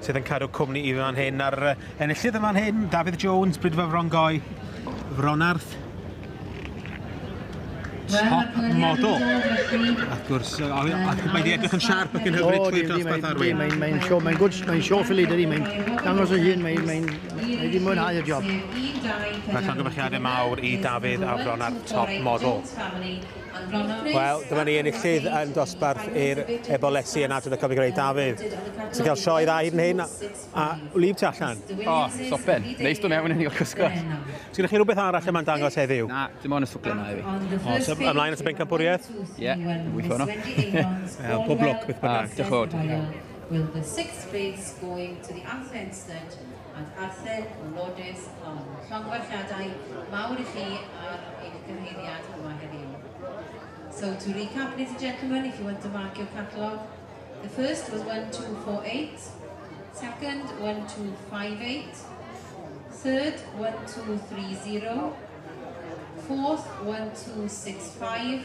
sydd yn cadw cwmni i fi fan hyn, a'r enillydd yn fan hyn, Dafydd Jones, Brydfa Frongoe, Fronarth, top model. Wrth gwrs, mae wedi edrych yn siarp ac yn hyfryd trwy'r dosbarth arwyn. Mae'n mae show, mae'n gwrs, mae'n show ffili dydi, mae'n dangos o hun, mae'n mae, mae, mae wedi mwynhau y job. Mae llongyfarchiadau mawr i Dafydd a Fron ar top model. Wel, dyma ni enillydd yn dosbarth i'r ebolesi yn adrodd y Cofio Greu Dafydd. Ti'n cael sioe dda hyd yn hyn, a wlyb ti allan? O, sopen. Neis dod mewn yn hil cysgod. Ti'n gyda chi rhywbeth arall lle mae'n dangos heddiw? Na, dim ond y swplen yna i fi. O, so ymlaen at y bencampwriaeth? Ie, yeah, wyth hwnnw. Wel, pob lwc beth bynnag. Diolch o. Will the sixth grades going to the Anthony Instead Ad Arthur Lourdes Long. Llongyfarchiadau mawr i chi ar eich cyrhaeddiad yma heddiw. So to recap, ladies and gentlemen, if you want to mark your catalogue, the first was 1248, second 1258, third 1230, fourth 1265,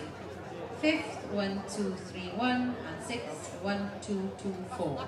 fifth 1231 and sixth 1224.